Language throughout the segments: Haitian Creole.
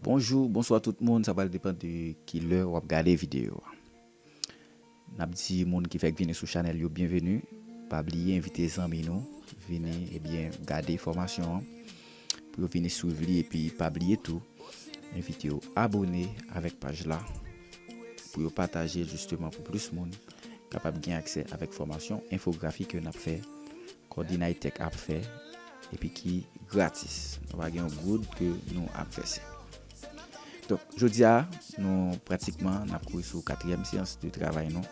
Bonjou, bonswa tout moun, sa pral depan de ki lè wap gade videyo a. Nap di moun ki fèk vini sou chanèl yo byenveni, pa bliye envite zanmi nou vini ebyen gade fòmasyon an pou yo vini swiv li epi pa bliye tou envite yo abone avèk paj la pou yo pataje l jisteman pou plis moun kapab gen aksè avèk fòmasyon enfografi ke nap fè Coordinaitec ap fè epi ki gratis nou pa gen yon goud ke nou ap vèse donk jodia nou pratikman nap kouri sou katriyèm seyans de travay nou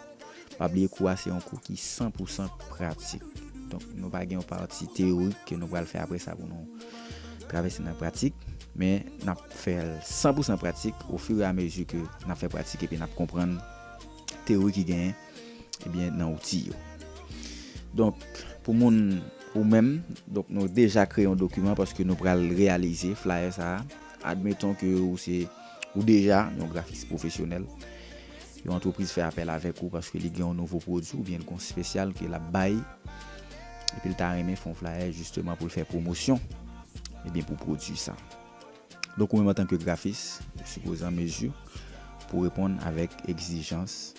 pa bliye kou a se yon kou ki san pou san pratik donk nou pa gen yon pati teyorik ke nou pral fè apre sa pou nou travèse nan pratik men nap fèl san pou san pratik ofire a mezi ke nap fè pratik epi nap konprann teyorik ki genyen. ebyen nan outil yo. Donk pou moun ou menm, donk nou deja kreye yon dokiman paske nou pral reyalize flyer sa a. Admeton ke ou se ou deja yon grafis pwofesyonèl, yon antrepriz fè apèl avèk ou paske li gen yon nouvo pwodwi oubyen li gen yon spesyal ke lap bay epi li ta renmen fè yon flyer jisteman pou l fè pwomosyon ebyen pou pwodwi sa. Donk ou menm antanke grafis ou sipoze an mezi pou reponn avèk egzijans.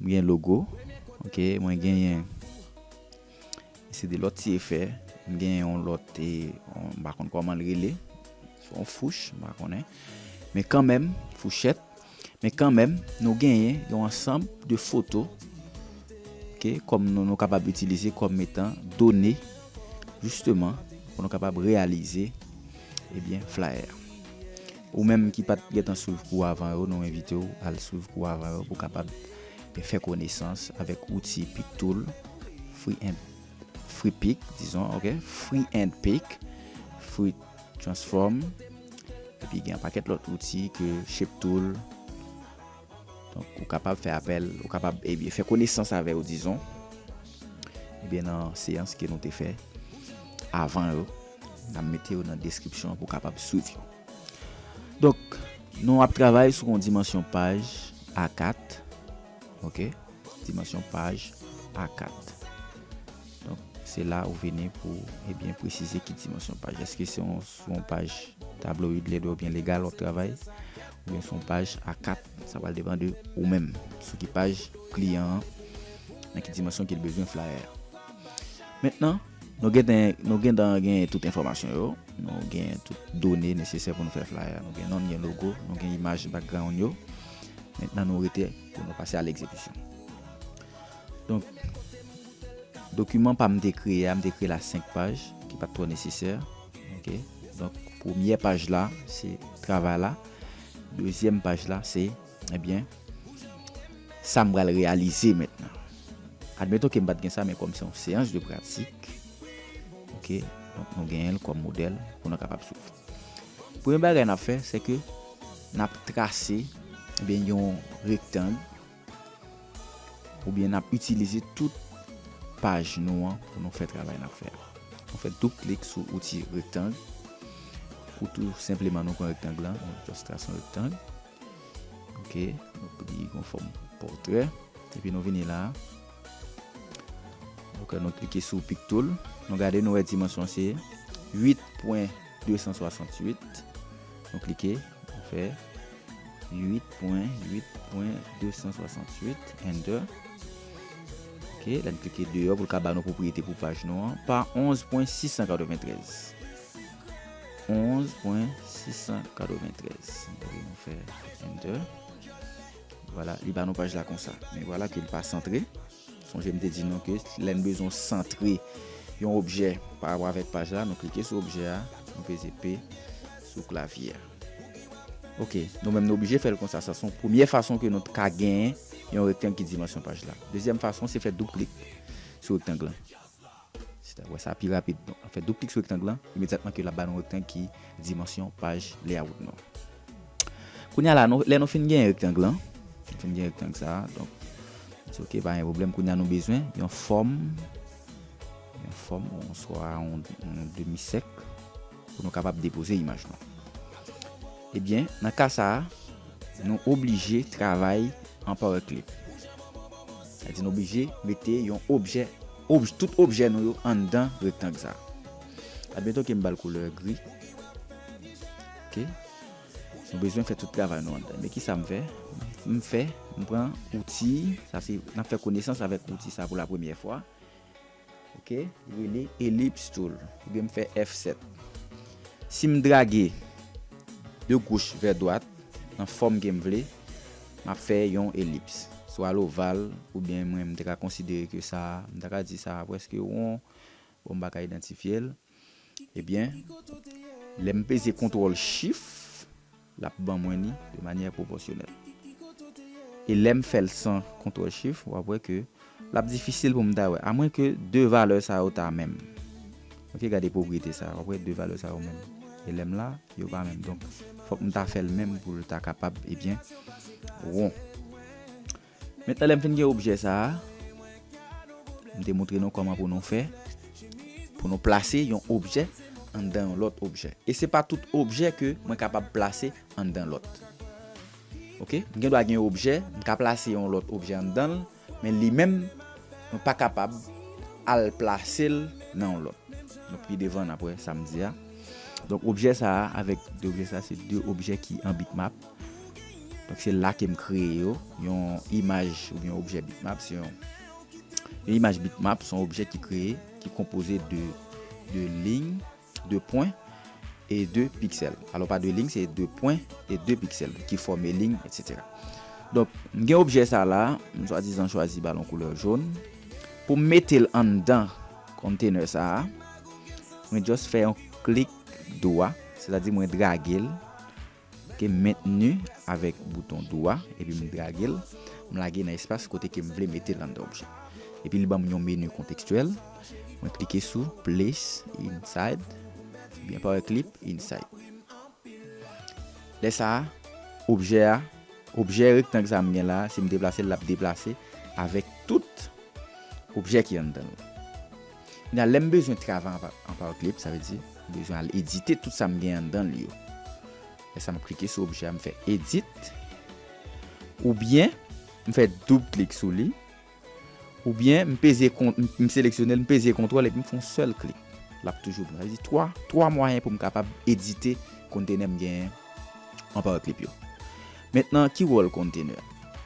M gen logo ok mwen genyen se de lòt ti efè m genyen yon lòt e m pa konn kòman l rele se yon fouch m pa konnen men kanmenm fouchèt men kanmenm nou genyen yon ansanm de foto ok kòm nou nou kapab itilize kòm etan done jisteman pou nou kapab reyalize ebyen flyer. Ou menm ki pat gentan swiv kou avan yo nou envite w al swiv kou avan yo pou w kapab fè konesans avèk outi PicTool free and free pic dizon ok free and pic free transform epi gen yon pakèt lòt outi ke ShapeTool donk ou kapab fè apèl ou kapab epi eh fè konesans avè yo dizon ebyen eh nan seyans ke nou te fè avan yo N ap mete yo nan deskripsyon an pou w kapab swiv yo. Donk, nou ap travay sou yon dimansyon paj A4. Ok, dimansyon paj A4. Donk, se la ou vini pou e byen presize ki dimansyon paj. Eske se yon paj tabloid, lèd oubyen legal w ap travay, oubyen se yon paj A4. Sa pral depan de ou menm, sou ki paj kliyan an, nan ki dimansyon ke l bezwen flyer a. Mentnan, nou gen ten, nou gen dan gen tout enfòmasyon yo, nou gen tout done nesesè pou nou fè flyer a. Nou gen non, nou gen logo, nou gen imaj background yo. Mentnan nou rete pou nou pase a l'exekisyon. Donk, dokiman pa m te kreye a, m te kreye l a 5 paj, ki pa t twò nesesè. Ok. Donk, premyè paj la, se travay la. Dezyèm paj la, se. Ebyen, sa m pral reyalize mentnan. Admeton ke m pa t gen sa men kòm se yon seyans de pratik, ok, donk nou genyen l kòm modèl pou nou kapab swiv. Premye bagay n ap fè se ke n ap trase ebyen yon rektang oubyen n ap itilize tout paj nou an pou nou fè travay n ap fè a. Nou fè doub klik sou outil rektang ou tou senpleman nou pran rektang lan, nou just trase yon rektang. Ok nou pedi yon fòm pòtrè epi nou vini la ok nou klike sou pic tool nou gade nou wè dimansyon an se 8 pwen 268 nou klike nou fè 8 pwen 8 pwen 268 enter ok lè nou klike deyò pou l ka ba nou pwopriyete pou paj nou an pa 11 pwen 693. 11.693 Epi nou fè enter Vwala li ba nou paj la konsa Men vwala ke li pa santre Sonje m te di nou ke lè n bezwen santre yon objè pa rapò avèk paj la nou klike sou objè a nou peze P sou klavye a Ok nou menm nou oblije fè l konsa sa se yon premye fason ke nou t ka gen yon rektang ki dimansyon paj la Dezyèm fason se fè doub klik sou rektang lan. Si ta wè sa pi rapid, donk nou fè doub klik sou rektang lan, imedyatman ke lap ba nou rektang ki dimansyon paj layout nou. Kounye a la, lè nou fin genyen rektang lan, nou fin genyen rektang sa, donk nou di ok pa gen pwoblèm, kounye a nou bezwen yon fòm, yon fòm oswa yon demi sèk. Pou nou kapab depoze imaj nou. Ebyen, nan ka sa a, nou oblije travay an power clip. Sa di nou oblije mete yon objè, tout objè nou yo anndan rektang sa. Admeton ke m ba l koulè gri. Ok. Nou bezwen fè tout travay nou anndan. Men ki sa m fè? M fè, m pran outi, sa se, n ap fè konesans avèk outi sa pou la premyè fwa. Ok rele elips tool oubyen m fè F7. Si m drage de goch vè dwat nan fòm ke m vle, m ap fè yon elips. Swa l oval oubyen mwen m te ka konsidere ke sa a, m ta ka di sa a prèske won, bon m pa ka idantifye l. Ebyen, lè m peze kontwòl chif, l ap ban mwen li de manyè pwopòsyonèl. E lè m fè l san kontwòl chif, w ap wè ke l ap difisil pou m ta wè, amwen ke 2 valè sa yo ta menm. Ok, gade pwopriyete sa a, w ap wè 2 valè sa yo menm. E lè m la, yo pa menm. Donk, fòk m ta fè l menm pou l ta kapab, ebyen, won. Mentnan lèm fin gen objè sa a, m te moutre nou kòman pou nou fè pou nou plase yon objè anndan yon lòt objè. E se pa tout objè ke mwen kapab plase anndan lòt. Ok, m gen dwa gen yon objè, m ka plase yon lòt objè anndan l, men li menm mwen pa kapab al plase l nan yon lòt. Donk pi devan n ap wè sa m di a. Donk objè sa a avèk 2 objè sa se 2 objè ki an bitmap. Donk se la ke m kreye yo. Yon imaj ou byen objè bitmap se yon Yon imaj bitmap se yon objè ki kreye, ki konpoze de de lign, de pwen e de piksèl. Alò pa de lign, se de pwen e de piksèl ki fòme lign etsetera. Donk m gen objè sa la, m swadizan chwazi balon koulè jon. Pou m mete l anndan konntenè sa a, mwen just fè yon klik dwa, sètadi mwen drage l Ke m mentni avèk bouton dou a epi m drage l, m lage nan espas kote ke m vle mete l anndan objè. Epi li ban m yon meni kontekstyèl, mwen klike sou Place Inside oubyen Power Clip Inside. Lè sa a, objè a, objè rektang sa a m gen la a, si m deplase l l ap deplase avèk tout objè ki anndan l. Nan lè m bezwen travay an Powerclip, sa vle di, m bezwen al edite tout sa m gen anndan l yo. Lè sa m ap klike sou objè a, m fè edit, oubyen m fè doub klik sou li, oubyen m peze kont, m seleksyone l, m peze kontwòl epi m fè yon sèl klik. L ap toujou pran. Sa vle di 3, 3 mwayen pou m kapab edite kontenè m genyen an Powerclip yo. Mentnan ki wòl container?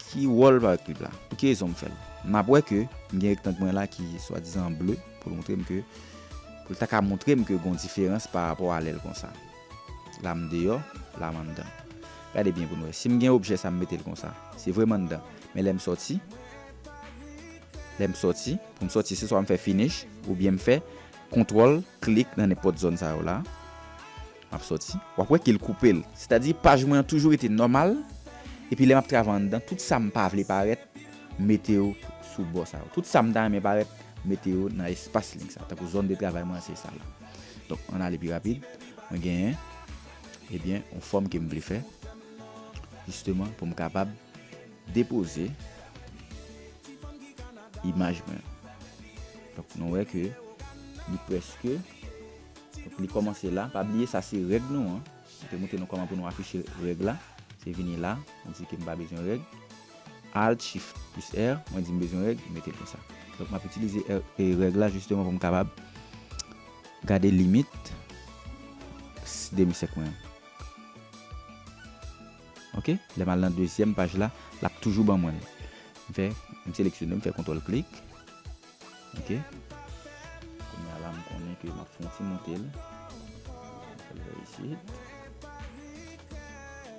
Ki wòl paraclip la? Pou ki rezon m fè l? M ap wè ke m gen rectangle mwen la ki swadizan an bleu pou l montre m ke, pou l ta ka montre m ke gon diferans pa rapò a lè l konsa. La m deyò, la m anndan. Gade byen pou n wè. Si m gen objè sa m mete l konsa. Se vre m anndan. Men lè m sòti, lè m sòti, pou m sòti se swa m fè finish oubyen m fè kontwòl klik nan nenpòt zòn sa yo la. Map soti, wap wè kel koupel. Sètadi paj mwen an toujou rete nòmal, epi lè map travay anndan tout sam pa vle parèt m mete yo sou bò sa yo. Tout sam ta renmen parèt m mete yo nan espas link sa. Tankou zòn de travay mwen an se sa la. Donk ann ale pi rapid, mwen genyen ebyen yon fòm kem vle fè jisteman poum kapab depoze imaj mwen. Donk nou wè ke li prèske. Donk li kòmanse la. Pa bliye sa se règ nou an. M te montre nou kòman pou nou afiche règ la. Se vini la, m di ke m pa bezwen règ. Alt, Shift plis R, mwen di m bezwen règ, m mete l konsa. Donk m ap itilize règ la jisteman pou m kapab gade limit demisèk mwen an. Ok, lè m al nan dezyèm paj la, l ap toujou ban mwen l. M fè, m seleksyone, m fè kontwòl klik. Ok Kounya la m konnen ke m ap fon ti moute l M fè l vè isit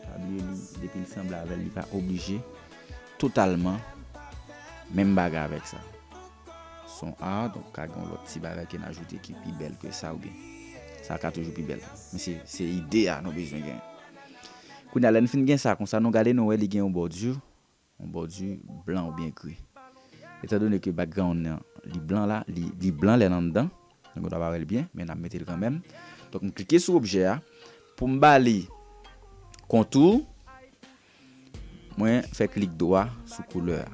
Pa bliye li depi l sanble avè l li pa oblije totalman menm bagay avèk sa Son a donk ka gen yon lòt ti bagay ke n ajoute ki pi bèl ke sa oubyen sa ka toujou pi bèl men se se ide a nou bezwen gen Kounya lè n fin gen sa konsa nou gade nou wè li gen yon bòdi On bòdi blan oubyen gri. Etan done ke background nan li blan la, li blan lè l anndan, nou gen dwa pa wè l byen, men n ap mete l kanmèm. Donk m klike sou objè a, pou m ba li contour, mwen fè klik dwa sou koulè a.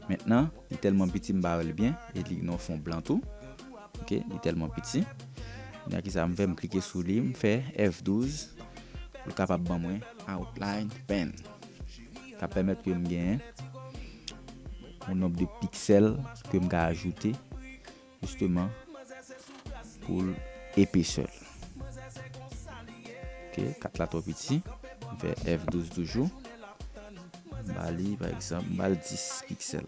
Mentnan, li tèlman piti m pa wè l byen, e li gen yon fon blan tou. Ok, li tèlman piti. Kounye a kisa m fè, m klike sou li, m fè F12 pou l kapab ban mwen outline pen. Sa pèmèt ke m gen yon nonb de piksèl ke m ka ajoute jisteman pou l epesè l. Ok, 4 la twò piti. M fè F12 toujou. M ba li pa egzanp, m ba l 10 piksèl.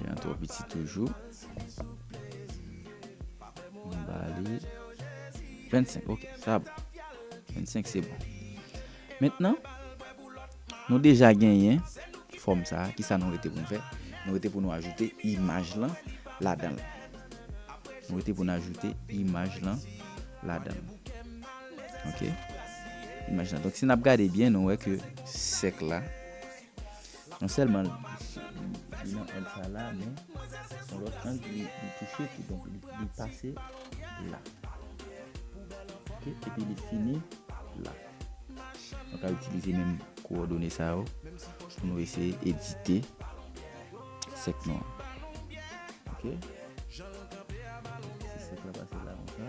Jean twò piti toujou. M ba li 25 ok sa bon. 25 se bon. Mentnan nou deja genyen fòm sa a kisa nou rete pou nou fè? Nou rete pou nou ajoute imaj lan ladan l. Nou rete pou nou ajoute imaj lan ladan l. Ok. Imaj lan. Donk si n ap gade byen nou wè ke sèk la. Non sèlman li nan ang sa la men son lòt ang li touche tou donk li pase la ok epi li fini la nou ka itilize menm kowòdone sa yo pou nou eseye edite sèk nou an ok si sèk la pase la kon sa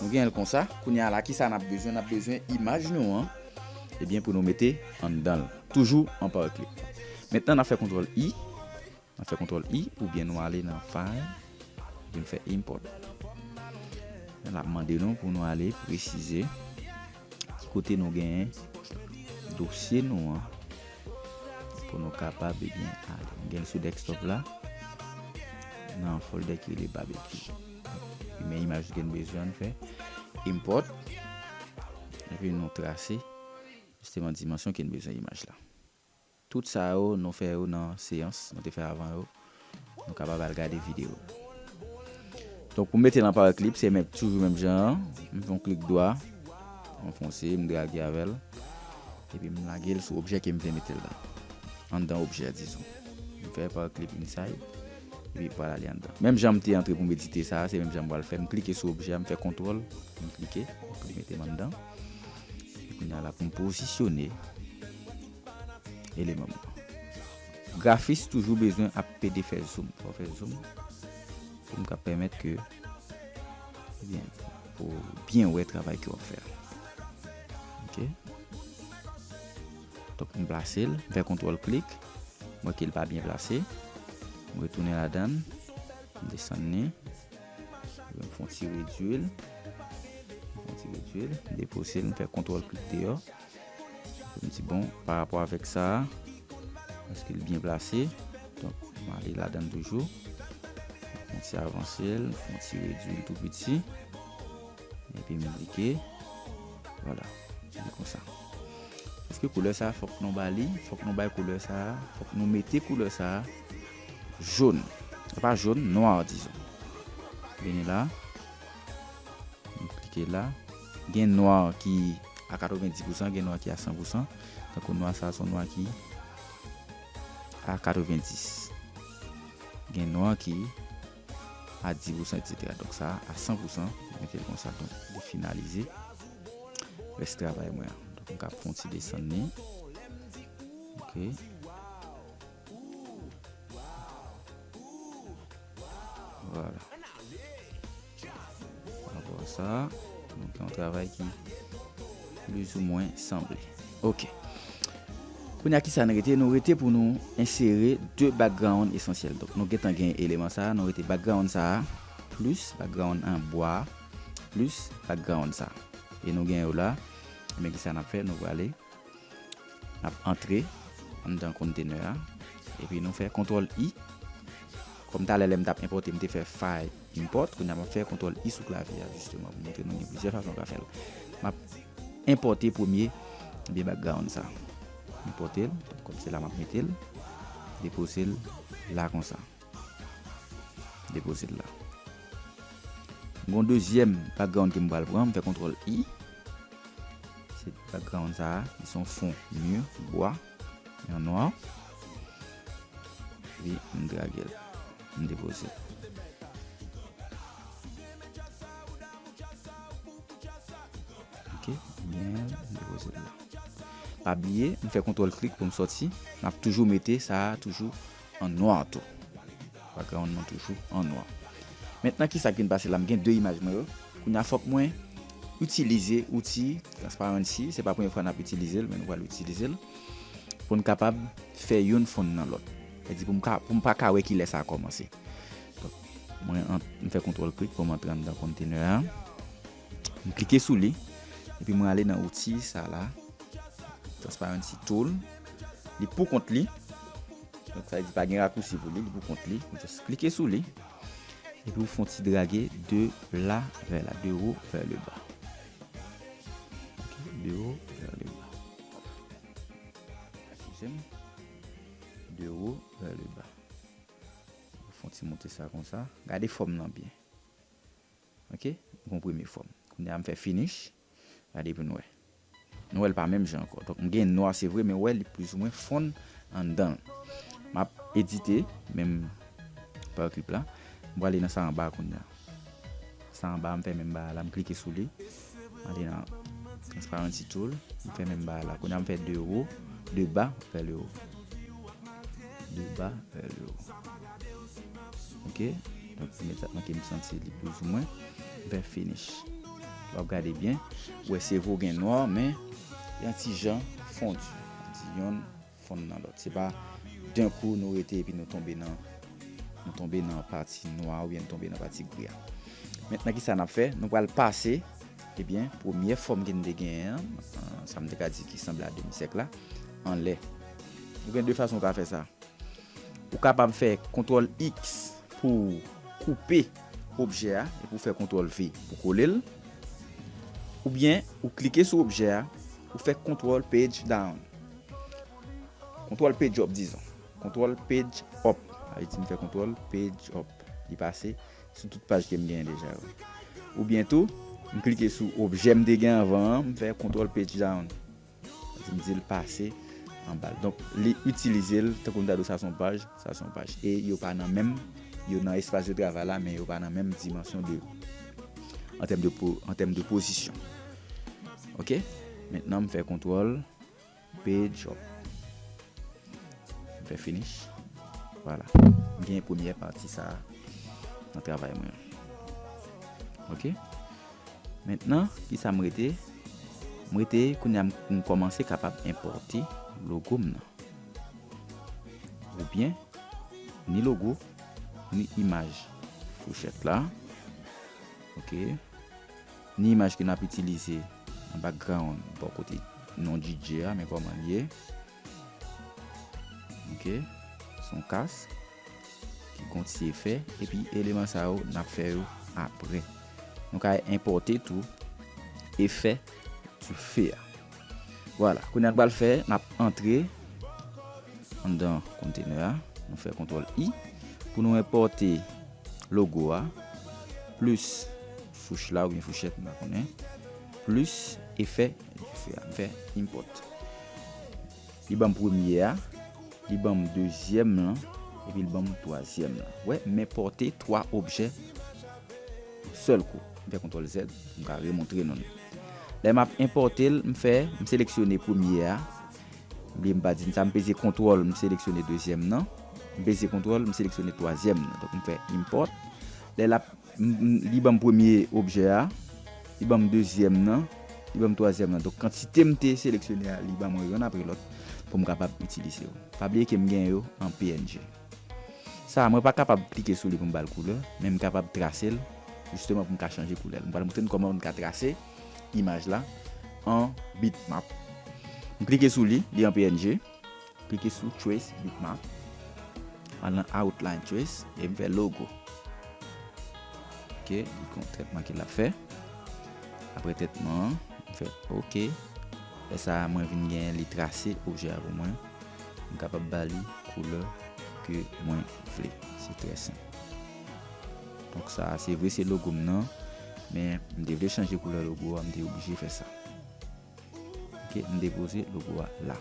Nou gen l konsa. Kounye a la, kisa n ap bezwen? N ap bezwen imaj nou an eh pou nou mete anndan l. Toujou an Powerclip. Mentnan n ap fè kontwòl I. N ap fè kontwòl I oubyen nou ale nan File epi nou fè Import. L ap mande nou pou nou ale presize. Ki kote nou genyen dosye nou an pou nou kapab ebyen ale. M gen l sou desktop la nan folder ki rele barbecue. M gen imaj ke n bezwen an fè import epi nou trase jisteman dimansyon ke n bezwen imaj la. Tout sa yo nou fè yo nan seyans nou te fè avan yo, nou kapab al gade video. Donk pou mete l an power clip se menm toujou menm jan an, m fè yon klik dwa, m anfonse, m drage avè l, epi m lage l sou objè ke m vle mete l la. Anndan objè a dizon. M fè power clip inside, epi m pral ale anndan. Menm jan m te antre pou m edite sa a, se menm jan m pral fè, m klike sou objè a, m fè kontwòl, m klike, pou li mete m anndan. Kounya la pou m pozisyone. eleman mwen. Grafis toujou bezwen ap pede fè zoom. Fò fè zoom pou m ka pèmèt ke ebyen pou w byen wè travay ke w ap fè a. Ok. Donk m plase l, m fè kontwòl klik, m wè ke l pa byen plase. M retounen ladan l, m desann li. M fè yon ti redui l, m fè yon ti redui l, m depouse l, m fè kontwòl klik deyò. Se bon, pa rapò avèk sa a, èske l byen plase? Donk, m ale ladan l toujou. M fè yon ti avanse l, m fè yon ti redui l tou piti. Epi m klike. Vwala. Li konsa. Èske koulè sa a fòk nou ba li? Fòk nou bay koulè sa a, fòk nou mete koulè sa a jòn. Pa jòn, nwa dizon. Vini la. Nou klike la. Gen nwa ki a 90 pousan, gen nwa ki a 100 pousan. Tankou nwa sa son nwa ki a 90. Gen nwa ki a 10 pousan etc. Donk sa a 100 pousan. Mwen mete l konsa donk li finalize. Rès travay mwen an. Donk m ka pran yon ti desann li. Ok. Vwala. Ankò sa. Mwen fè yon travay ki plizoumwen sanble. Ok. Kounye a kisa n rete? Nou rete pou nou ensere 2 background esansyèl. Donk nou gentan gen eleman sa a. Nou rete background sa a plis background an bwa a plis background sa a. E nou gen yo la. Ebyen kisa n ap fè? Nou prale. N ap antre anndan container a. Epi nou fè kontrol I. Kòm talè lè m t ap enpòte m te fè fay import. Kounya m ap fè kontrol I sou klavye a jisteman pou montre nou gen plizyè fason w ka fè l. M ap enpòte premye ebyen background sa. Enpòte l. Kòm se la m ap mete l. Depose l la konsa. Depoze l la. M gen yon dezyèm background ke m pral pran. M fè kontrol I. Se background sa a. Li se yon fon mur, bwa, an nwa. Epi m drage l. M depoze l. Ok. M gen l. M depoze l la. Pa bliye, m fè kontrol klik pou m soti. M ap toujou mete sa a toujou. an nwa tou. Background mwen toujou an nwa. Mentnan ki sak vin pase la m gen 2 imaj mwen yo. Kounya fok mwen itilize outi transparency. Se pa premye fwa nap itilize l men nou pral itilize l. Pou n kapab fè youn fonn nan lot. Sa di pou m ka pou m pa ka wè kilè sa komanse. Donk mwen an m fè kontrol klik pou m antre anndan container an. M klike sou li, epi mwen ale nan outi sa la, Transparency Tool. Li pou kont li. Donk sa vle di pa gen rakousi pou li, li pou kont li. Ou just klike sou li, epi ou fon ti drage de la vè la, de wo vè le ba. De wo vè le ba. Eskize m. De wo vè le ba. Ou fon ti monte sa konsa. Gade fòm lan byen. Ok gon premye fòm kounye a m fè finish gade pou n wè nou wè l pa menm jan ankò donk m gen nwa se vre men wè li plizoumwen fonn anndan l m ap edite menm pa clip la m prale nan sa anba kounye a sa anba a m fè menm bagay la m klike sou li. Antre nan transparency tool. M fè menm bagay la. Kounya m fè de wo, de ba vè le wo. De ba vè le wo. Ok. Donk m met sa tanke m santi li plouzomwen. M fè finish. W ap gade byen. Ou wè se vo gen nwa men yon ti jan fondu. Yon ti jan. fon nan lòt. Se pa d'un coup nou rete epi nou tonbe nan nou tonbe nan pati nwa a oubyen nou tonbe nan pati gri a. Mentnan kisa nap fè? Nou pral pase ebyen premyè fòm ke nou te genyen an, sa m te ka di ki sanble a demi sèk la, anlè. Ou gen 2 fason ou ka fè sa. Ou kapab fè kontwòl X pou ou koupe objè a epi ou fè kontwòl V pou kole l. Oubyen ou klike sou objè a, ou fè kontwòl page down. Kontwòl page up dizon. Kontwòl page up. Ayiti m fè kontwòl page up. Li pase sou tout paj ke m genyen deja yo. Oubyen tou, m klike sou objè m te gen anvan an, m fè kontwòl page down. Ayiti m di l pase anba l. Donk, li itilize l tankou m ta di w sa se yon paj, sa se yon paj. E yo pa nan menm, yo nan espas de travay la men yo pa nan menm dimansyon de an tèm de pozisyon. Ok. Mentnan m fè kontwòl. Page up. M fè finish. Vwala. M genyen premyè pati sa a nan travay mwen an. Ok. Mentnan, ki sa m rete? M rete kounye a m kòmanse kapab enpòte logo m nan. Oubyen, ni logo, ni imaj fouchèt la. Ok. Ni imaj ke nap itilize nan background bò kote non DJ a men kòman liye ok son kas ki gon ti efè epi eleman sa yo nap fè yo aprè nou ka enpòte tou efè dife a vwala kounya nou pral fè nap antre anndan container a nou fè kontrol i pou nou enpòte logo a plis. Fouch la oubyen fouchèt m pa konnen. Plis efè dife a. M fè import. Li banm premye a, li banm dezyèm lan, epi li banm twazyèm lan. Wè m enpòte 3 objè yon sèl kou. M fè kontrol Z, m ka remontre nou li. Lè m ap enpòte l, m fè, m seleksyone premye a, m bliye m pa di n sa, m peze kontrol, m seleksyone dezyèm lan, m peze kontrol, m seleksyone twazyèm lan. Donk m fè import. Lè l ap Li ban m premye objè a. Li ban m dezyèm nan. Li ban m twazyèm nan. Donk kantite m te seleksyone a, li ban mwen youn apre lòt pou m kapab itilize yo. Pa bliye ke m gen yo an png. Sa a, mwen pa kapab klike sou li pou m ba l koulè, men m kapab trase l jisteman pou m ka chanje koulè l. M pral montre n kòman m ka trase imaj la an bitmap. M klike sou li, li an png. Klike sou Trace Bitmap. Al nan Outline Trace e m fè Logo. Ok, li konn trètman ke l ap fè. Apre trètman an, m fè Ok. Lè sa a, mwen vin gen li trase objè a pou mwen. M kapab ba li koulè ke mwen vle. Se trè senp. Donk sa a, se vre se logo m nan, men m te vle chanje koulè logo a, m te oblije fè sa. Ok m depoze logo a la.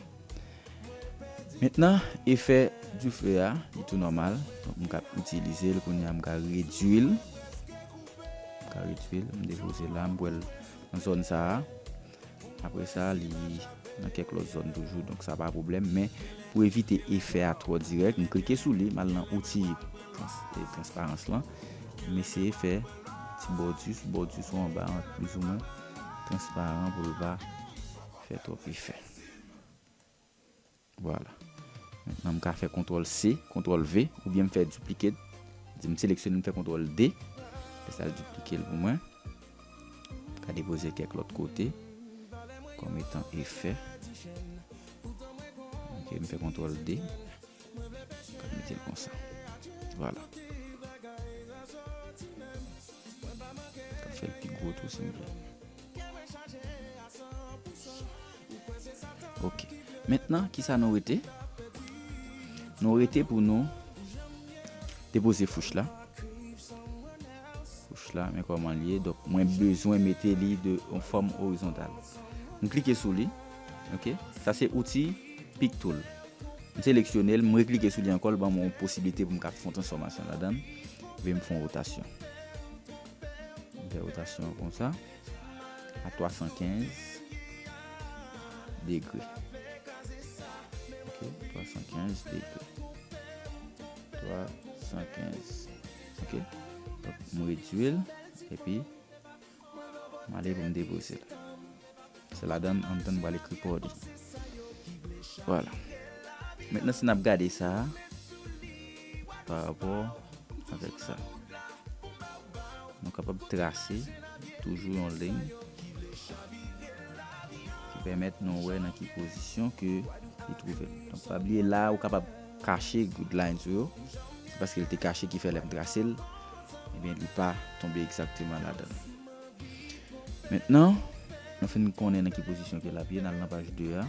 Mentnan efè dife a li tou nòmal. Donk m ka itilize l kounya m ka redui l. M ka redui l m depoze la m wèl nan zòn sa a. Apre sa li nan kèk lòt zòn toujou donk sa pa pwoblèm. Men pou evite efè a twò dirèk m klike sou li m al nan outil transparans lan. M eseye fè. ti bòdi sou bòdi sou anba an plizoumwen transparan pou l pa fè twòp efè vwala mentnan m ka fè kontwòl C kontwòl V oubyen m fè duplicate di m seleksyone m fè kontwòl D lè sa l duplike l pou mwen m ka depoze kèk lòt kote kòm etan efè ok m fè kontwòl D. Se konsa. Vwala. An fè l pi gwo tou si nou vle. Ok. Mentnan ki sa nou rete? Nou rete pou nou depoze fouch la. Fouch la men kòman l ye. Donk mwen bezwen mete li de yon fòm orizontal. M klike sou li. Ok sa se outi pic tool m seleksyonel m reklike sou li ankò l banm yon posiblite pou m ka fon transfòmasyon ladann vle m fon rotasyon m fè rotasyon konsa a 315 degre ok 315 degre 315 ok m redwil epi M ale pou m depoze l. Se ladan l Anton pral ekri pa w li. Vwala. Mentnan si n ap gade sa a, pa rapò avèk sa. Nou kapab trase toujou yon liy ki pèmèt nou wè nan ki pozisyon ke li twouve l. Donk pa bliye la a ou kapab. kache grid line sou yo, se paske l te kache ki fè lè m trase l, ebyen li pa tonbe egzakteman ladan l. Mentnan, nou fin konnen nan ki pozisyon ke l ap ye, n al nan paj 2 a.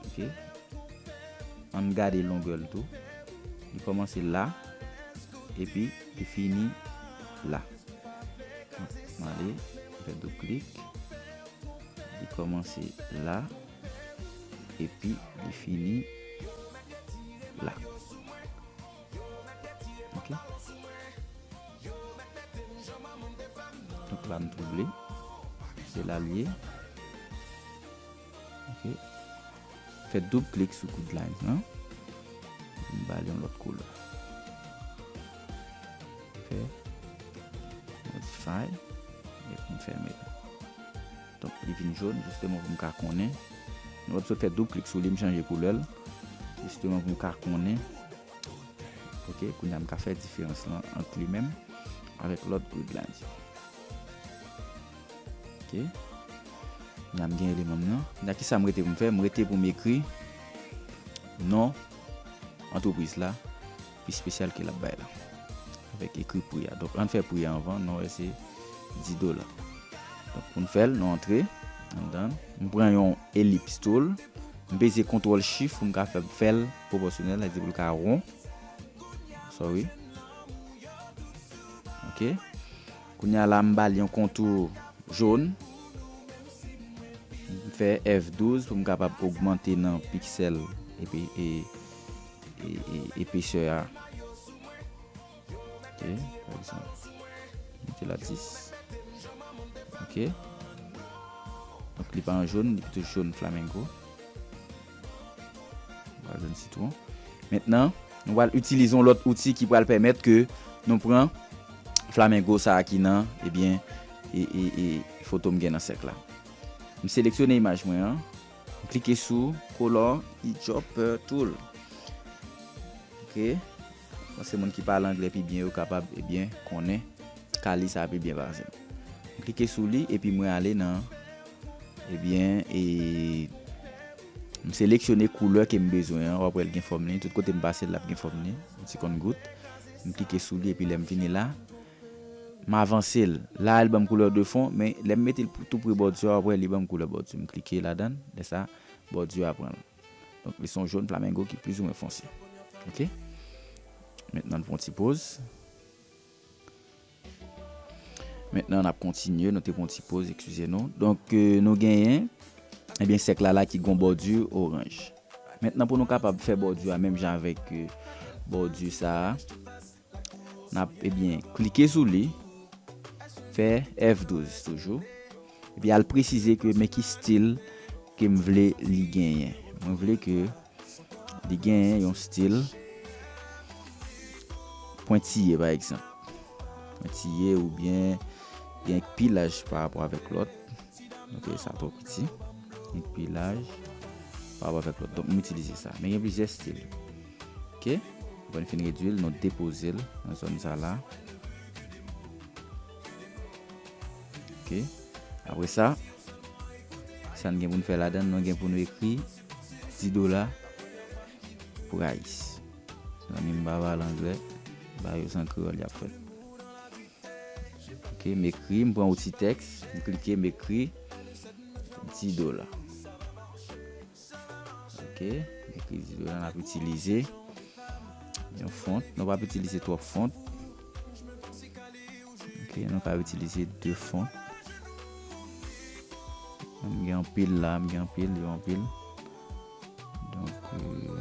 Ok. An n gade longè l tou. Li kòmanse la, epi li fini la. M ale, m fè doub klik. Li kòmanse la. Epi li fini la. Ok. Tout la m twouble. Se la l ye. Ok. Fè doub klik sou grid lines lan. M ba l yon lòt koulè. Fè. Modify. Epi m fèmen l. Donk li vin jaune jisteman pou m ka konnen. Nou wè m sot fè doub klik sou li m chanje koulè l. Jisteman pou m ka konnen. Ok kounye a m ka fè diferans lan ant li menm avèk lòt grid la. Ok. Kounye a m gen eleman m nan. Kounye a kisa m rete pou m fè? M rete pou m ekri non antrepriz la. pi spesyal ke lap bay la. Avèk ekri pri ya. Donk an fè pri ya anvan nou wè se 10 dola. Donk pou nou fèl nou antre an dan. M pran yon elips tool. M peze kontrol chif pou m ka fè fèl pwopòsyonèl. Sa vle di pou l ka won. Sorry. Ok. Kounye a la m bal yon kontou joun. M fè F12 pou m kapab ogmante nan piksèl epi e. Epesè a. Ok. Fè sa. Mete la 10. Ok. Donk li pa an joun. Li pito joun flamenco. Ba joun sitwon. Mentnan. Nou pral itilize yon lòt outi ki pral pèmèt ke nou pran flamenco sa a ki nan ebyen e foto m gen nan sèk la. M seleksyone imaj mwen an. Klike sou kolon ki Chopper Tool. Ok. Panse moun ki pale angle pi byen yo kapab ebyen konnen kali sa pi byen pase. M klike sou li epi mwen ale nan ebyen e m seleksyone koulè ke m bezwen an. W ap wè li gen fòm li. Tout kote m pase l l ap gen fòm li. Yon ti konn gout. M klike sou li epi lè m vini la. M avanse l, la a li ban m koulè de fon, men lè m mete l pou tou pre bòdi a, w'apre li ban m koulè bòdi. M klike ladan, lè sa a, bòdi a pran l. Donk li se yon jòn flamengo ki plizoumwen fonse. Ok. Mentnan n fè yon ti poz. Mentnan n'ap kontinye, nou te fè yon ti poz, ekskize nou. Donk nou genyen, ebyen sèk la la ki gen yon bòdi oranj. Mentnan pou nou kapab fè bòdi a menm jan avèk bòdi sa a. Nap ebyen klike sou li fè F12 toujou epi al presize ke men ki stil kem vle li genyen mwen vle ke li genyen yon stil pwentiye pa egzanp pwentiye oubyen gen ki pi laj pa rapò avèk lòt. Ok sa twò piti. Li k pi laj. Pa wap avèk lòt. Donk m itilize sa. Men gen plizyè stil. Ok. Apre n fin redui l, nou depoze l nan zòn sa la. Ok. Apre sa, sa n gen pou n fè ladan l, nou gen pou nou ekri 10 dola price. Zanmi m pa pale anglè. M ba yo san kreyòl y ap fèt. Ok m ekri m pran yon ti tèks m klike m ekri 10 dola ok m ekri 10 dola n ap itilize yon font nou pap itilize twòp font ok nou ka itilize 2 font m gen anpil la m gen anpil yo anpil donk euh,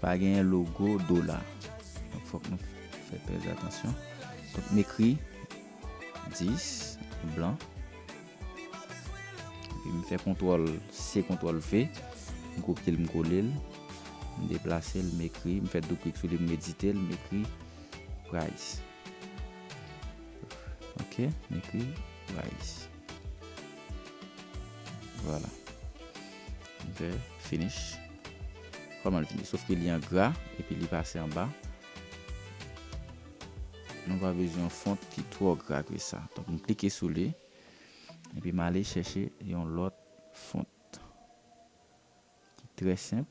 Pa genyen logo dola. Donk fòk nou fè trè atansyon. Donk m ekri 10 an blan. Epi m fè kontwòl C, kontwòl V. M kopye l, m kole l. M deplase l, m ekri. M fè doub klik sou li, m edite l, m ekri price. Ok, m ekri price. Vwala. Ok finish. Koman l fini? Sof ke li an gra epi li pase anba. Nou pa bezwen yon font ki twò gra ke sa. Donk m klike sou li. Epi m ale chèche yon lòt font. Ki trè senp.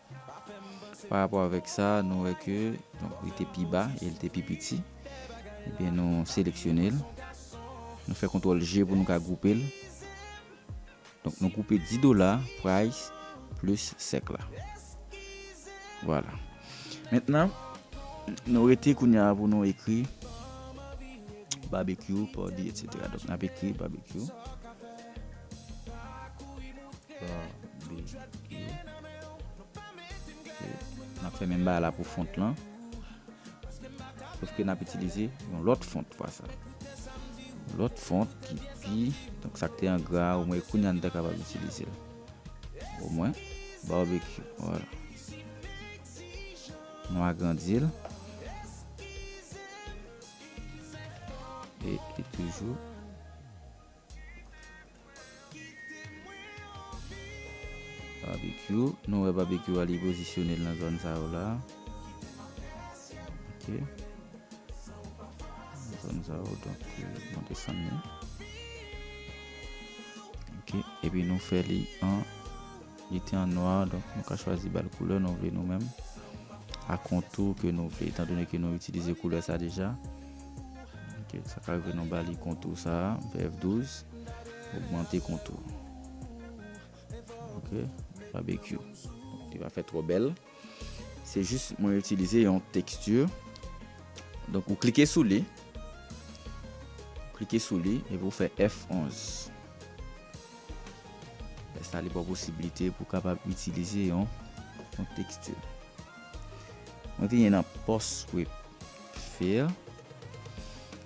Pa rapò avèk sa, nou wè ke donk li te pi ba e li te pi piti. Ebyen nou seleksyone l. Nou fè kontwòl G pou nou ka gwoupe l. Donk nou gwoupe 10 dola, price, plis sèk la. Vwala. Mentnan, nou rete kounye a pou nou ekri Barbecue, Pòdi, etc. Donk n ap ekri Barbecue. Nap fè menm bagay la pou font lan. Sof ke nap itilize yon lòt font fwa sa. Lòt font ki pi, donk sak te an gra, ou mwen kounye an ta kapab itilize. Ou mwen, barbecue, wala. Nou agrandi l. E ki toujou. Babekyou nou wè babekyou a li pozisyone l nan zòn sa yo la ok nan zòn sa yo donk nou desann li ok epi nou fè li an Li te an nwa, donk nou ka chwazi ba l koulè nou vle nou menm, a kontou ke nou vle, etan done ke nou itilize koulè sa deja. Ok, sa ka rive nou ba li kontou sa, BF 12, ogmante kontou. Ok, Babekyou. Li pa fè twò bèl. Se jis mwen itilize yon teksti. Donk ou klike sou li. Klike sou li epi ou fè F11. Lè sa li ba w posibilite pou kapab itilize yon teksti. Mwen vini nan post script fill.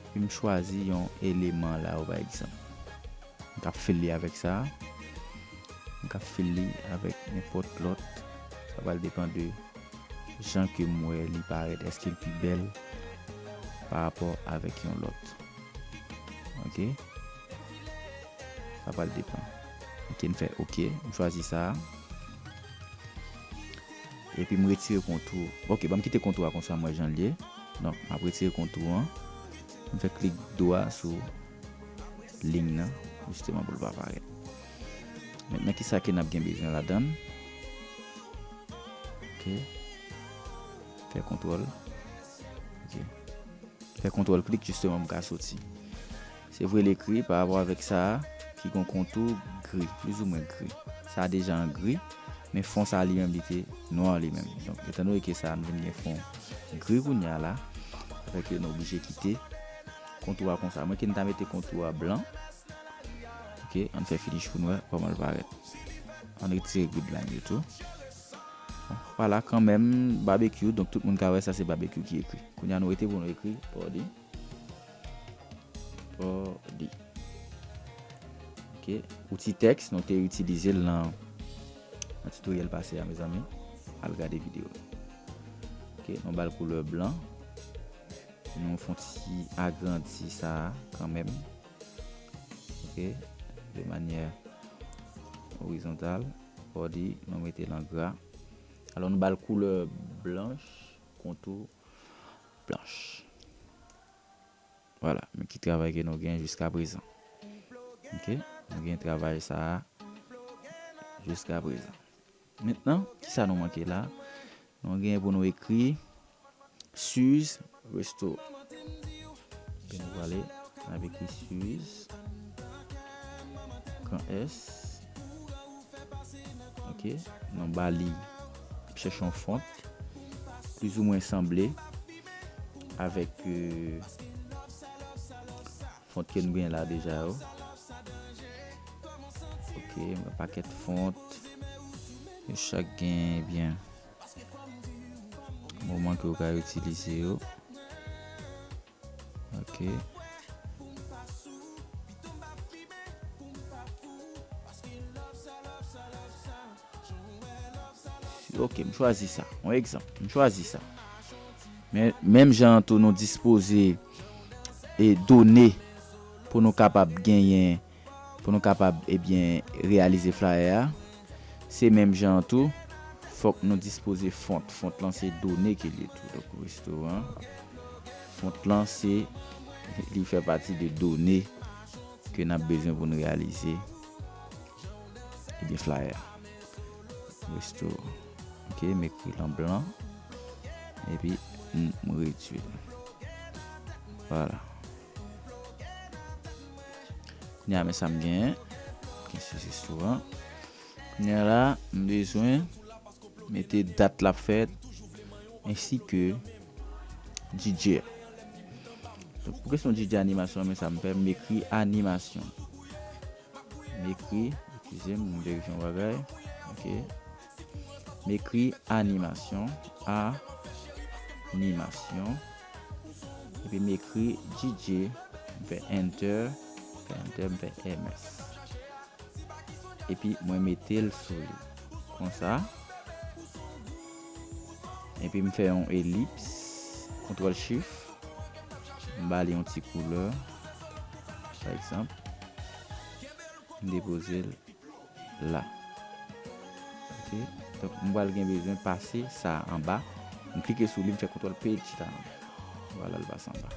Epi m chwazi yon eleman la ou bay egzanp. M ka fil li avèk sa. M ka fil li avèk nenpòt lòt. Sa pral depan de jan ke m wè li parèt. Eske l pi bèl pa rapò avèk yon lòt. Ok. Sa pral depan. Ok m fè ok. M chwazi sa. Epi m retire kontou. Ok banm kite kontou a konsa m wè jan l ye. Donk m ap retire kontou an. M fè klik dwa sou. lign nan jisteman pou l pa parèt. Mentnan kisa ke nap gen bezwen ladann. Ok. Fè kontrol. Ok. Fè kontrol klik jisteman pou m ka soti. Se vre l ekri pa rapò avèk sa a ki gon kontou gri. Plis ou mwen gri. Sa a deja an gri. Men fon sa a li menm li te nwa li menm. Donk etan donne ke sa a nou vin gen fon gri kounya la. Sa fè ke nou oblije kite. Kontou a konsa. Mwen kin ta mete kontou a blan. Ok, an fè finish pou nou wè kòman l parèt. An retire grid line yo tou. Wala kanmenm barbecue. Donk tout moun ka wè sa se barbecue ki ekri. Kounya nou rete pou nou ekri Pòdi. Pòdi. Ok, outi tèks nou te itilize l nan tutoriel pase a mezanmi. Al gade video. Ok, nou ba l koulè blan. Nou fon ti agrandi sa a kanmenm. Ok. De manyè orizontal. Body, nou mete l an gra. Alò nou ba l koulè blanch, kontou blanch. Vwala, men ki travay ke nou gen jiska prezan. Ok, nou gen travay sa a jiska prezan. Mentnan, ki sa nou manke la? Nou genyen pou nou ekri Suze Resto. Epi nou prale, n ap ekri Suze, kan S. Ok. Nou ba li, n ap chèche yon font, plizoumwen sanble avèk. Font ke nou gen la deja yo. Ok m gen paket font. Yo chak gen ebyen. Moman ke ou ka itilize yo. Ok. Si ok, m chwazi sa. Yon egzanp, m chwazi sa. Men, menm jan an tou nou dispoze e done pou nou kapab genyen, pou nou kapab ebyen reyalize flayè a, se menm jan an tou, fòk nou dispoze font. Font lan se done ke l ye tou. Donk, restoran, font lan se, li fè pati de done ke n ap bezwen pou nou reyalize. Gen flyer. Resto. Ok, m ekri l an blan. Epi m redui l. Vwala. Kounye a men sa m gen. Gen sou restoran. Kounye a la, m bezwen mete dat l ap fèt. Ensi ke DJ a. Pou kesyon DJ animasyon an men sa m fè. M ekri animasyon. M ekri, eskize m, m verifye yon bagay. Ok. M ekri animasyon, a, ni, masyon. Epi m ekri DJ, m fè enter, m fè enter, m fè MS. Epi mwen mete l sou li. Konsa. Epi m fè yon elips, kontrol shift. M ba li yon ti koulè. Pa egzanp, m depoze l la. Ok. Donk, m pral gen bezwen pase sa a anba. M klike sou li, m fè kontwòl P chita anba. Vwala l pase anba.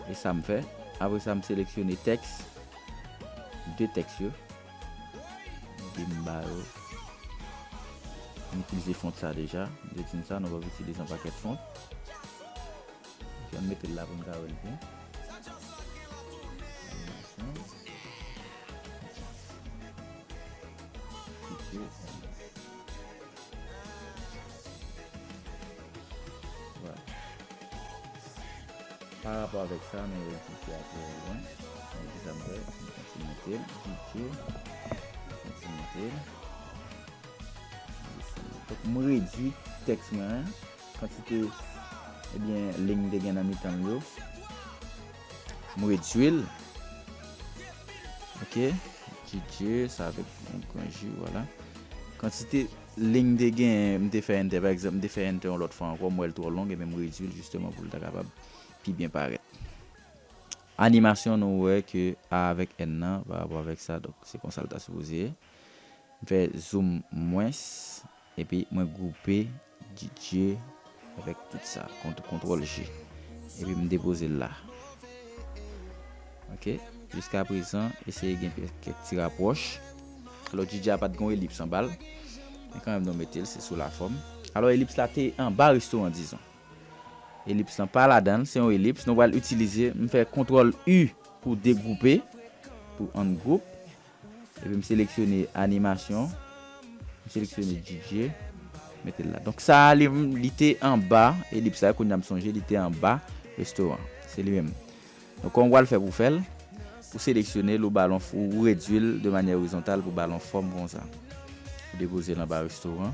E sa m fè. Apre sa, m seleksyone tèks. De tèks yo. Mete m ba yo. M itilize font sa deja. M te di n sa nou pap itilize yon pakèt font. Ok, m mete l la pou n ka wè l byen. Animasyon. Fiti animasyon. Pa rapò avèk sa, mwen wè ti fia trè lwen. Mwen ki sa mwen fè, mwen konti monte l, piti, mwen konti monte l. Mwen redwi tèks mwen an. Kantite ebyen ling m te gen nan mitan m yo. M redui l. Ok. Didye sa avèk yon gran J wala. Kantite ling m te gen m te fè enter. Pa egzanp m te fè enter yon lòt fwa ankò m wè l twò long ebyen m redui l jisteman pou l ta kapab pi byen parèt. Animasyon nou wè ke A avèk N nan pa rapò avèk sa donk se konsa l ta sipoze ye. M fè zoom mwens epi mwen gwoupe. DJ avèk tout sa kontrol G epi m depozel la ok jiska prezan eseye gen kèk ti rapwòch alò DJ a pat gen yon elips anbal men kanmenm nou metel se sou la fòm. Alò elips la te anba restoran dizon elips lan pa ladanl se yon elips nou pral itilize m fè kontrol U pou degwoupe pou 1 gwoup. Epi m seleksyone animasyon. M seleksyone DJ. Mete l la. Donk sa a li te anba elips la. Kounya m sonje li te anba restoran. Se li menm. Donk kòman w pral fè pou w fè l? Ou seleksyone l, ou ba l yon, ou redui l de manyè orizontal pou ba l yon fòm konsa. Ou depoze l anba restoran.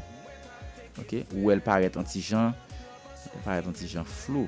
Ok. Ou wè l parèt yon ti jan, li parèt yon ti jan flou.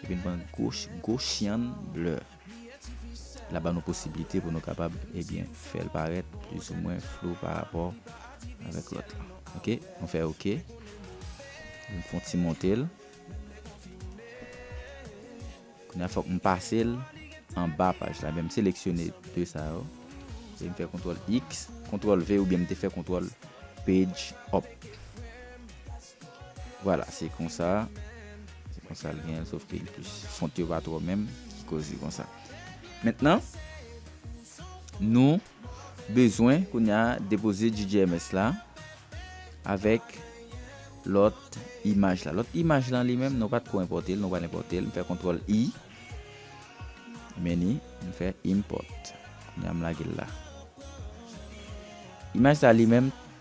Li vin pran gwo chyann lè l ap ba nou posiblite pou nou kapab ebyen fè l parèt plizoumwen flou pa rapò avèk lòt la. Ok, nou fè ok. M fon ti monte l. Kounya fòk m pase l anba paj la. Ebyen m seleksyone 2 sa yo. E m fè kontrol X, kontrol V oubyen m te fè kontrol page up. Vwala se konsa se konsa l genyen sof ke li plis font yo pa twò menm ki koz li konsa mentnan nou bezwen kounya depoze jdjms la avèk lòt imaj la lòt imaj lan li menm nou pat ko enpòte l nou pral enpòte l m fè kontwòl i meni m fè impòt kounya m lage l la imaj sa li menm.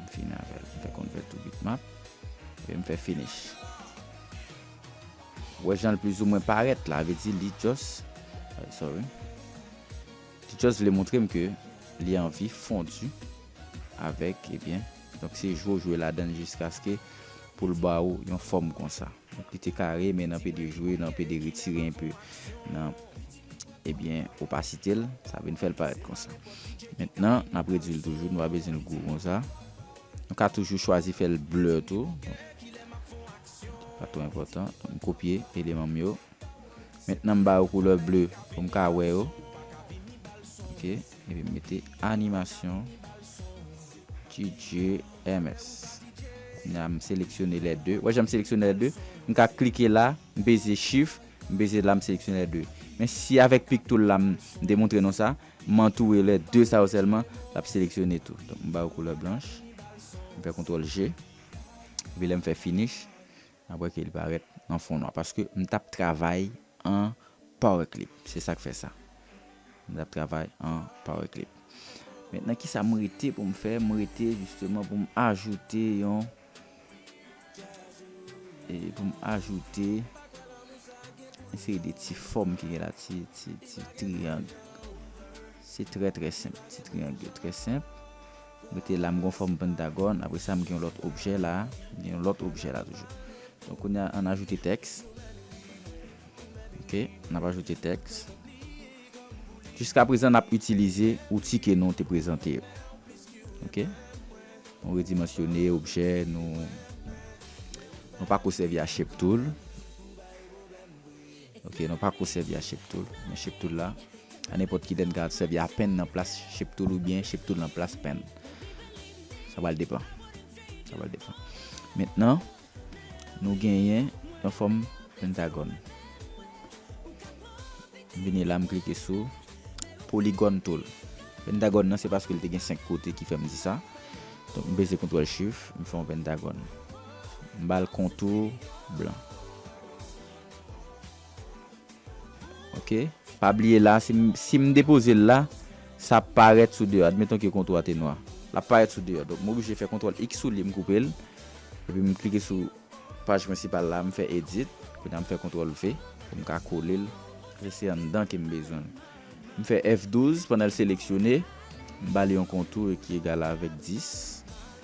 M fini avèl. M fè convert to bitmap. Epi m fè finish. Ou wè jan l plizoumwen parèt la. Vle di li just, sorry. Li just vle montre m ke li anvi fondu avèk ebyen. Donk se jwe ou jwe ladan l jiskaske pou l ba ou yon fòm konsa. Donk li te kare men nan pede jwe, nan pede retire enpe nan. Ebyen ou pa site l, sa vin fè l parèt konsa. Mentnan, n ap redui l toujou, nou pa bezwen l gwo konsa. Nou ka toujou chwazi fè l blur tou. Pa twò enpòtan. M kopye eleman m yo. Mentnan m ba yo koulè bleu pou m ka wè yo. Ok. Epi m mete animasyon GGMS. Kounya m seleksyone lè de. Wè jan m seleksyone lè de? M ka klike la, m peze shift. M peze la m seleksyone lè 2. Men si avèk pic tool la m demontre nou sa, m antoure lè 2 sa yo sèlman, l ap seleksyone tou. Donk m ba yo koulè blanch, m fè kontrol G, epi lè m fè finish, n ap wè ke li parèt an fon nwa. Paske m t ap travay an power clip. Se sa k fè sa. M t ap travay an power clip. Mentnan kisa m rete pou m fè? M rete jisteman pou m ajoute yon E pou m ajoute yon seri de ti fòm ki gen la, ti triyang. Se trè trè senp. Ti triyang yo trè senp. Mete la m gon fòm pentagòn. Apre sa m gen yon lòt objè la. M gen yon lòt objè la toujou. Donk kounye a an ajoute tèks. Ok, n ap ajoute tèks. Jiska prezan n ap itilize outi ke nou te prezante yo. Ok. Nou redimansyone objè nou. Nou pa ko sèvi a Shape Tool. Ok, nou pa ko sèvi a Shape Tool. Men Shape Tool la. A nenpòt ki lè n ka sèvi a Pen nan plas Shape Tool oubyen Shape Tool nan plas Pen. Sa pral depan. Sa pral depan. Mentnan. nou genyen yon fòm pentagòn. M vini la m klike sou polygon tool. Pentagòn nan se paske li te gen 5 kote ki fè m di sa. Donk m peze kontrol shift, m fè yon pentagòn. M ba l kontou blan. Ok pa bliye la si m depoze l la sa ap parèt sou 2 admeton ke kontou a te nwa l ap parèt sou 2 donk m oblije fè kontrol x sou li m koupe l epi m klike sou paj prensipal la m fè edit kounye a m fè kontrol v pou m ka kole l paske se anndan ke m bezwen l m fè F12 pandan l seleksyone m ba li yon kontou ki egal avèk 10.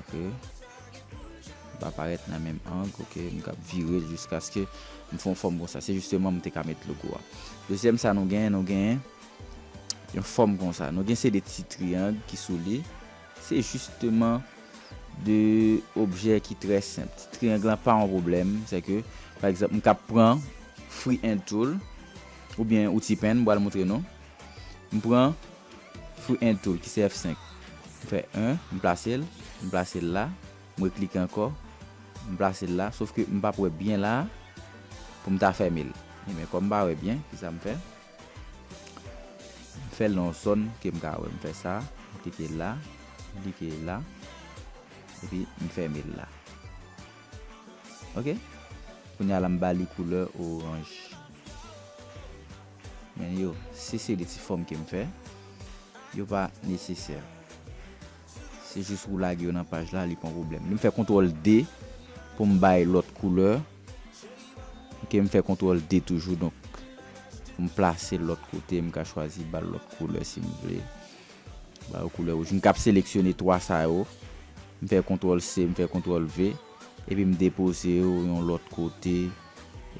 ok li pa parèt nan menm ang ok m kab vire l jiskaske m fon fòm konsa se jisteman m te ka met logo a dezyèm sa nou gen nou gen yon fòm konsa nou gen se de ti triyang ki sou li se jisteman de objè ki trè senp ti triyang lan pa yon pwoblèm se ke pa egzanp m kab pran free hand tool oubyen outil pen m pral moutre nou m pran Fwi en tou, ki se F 5. M fè 1, m plase l, m plase l la, m reklike ankò, m plase l la, sof ke m pap wè byen la a, pou m ta fèmen l. Enben, kòm m pa wè byen, kisa m fè? M fè l nan yon zòn ke m ka wè. M fè sa, m klike la, m klike la, epi m fèmen l la. Ok. Kounye a la m ba li koulè oranj. Men yo, si se de ti fòm ke m fè, yo pa nesesè. Se jis ou lage yo nan paj la, li pa yon pwoblèm. M fè kontwòl D pou m bay lòt koulè. Ok, m fè kontwòl D toujou, donk pou m plase l lòt kote, m ka chwazi ba l lòt koulè si m vle. Ba yo koulè wouj. M kab seleksyone 3 sa yo. M fè kontwòl C, m fè kontwòl V. Epi m depoze yo yon lòt kote,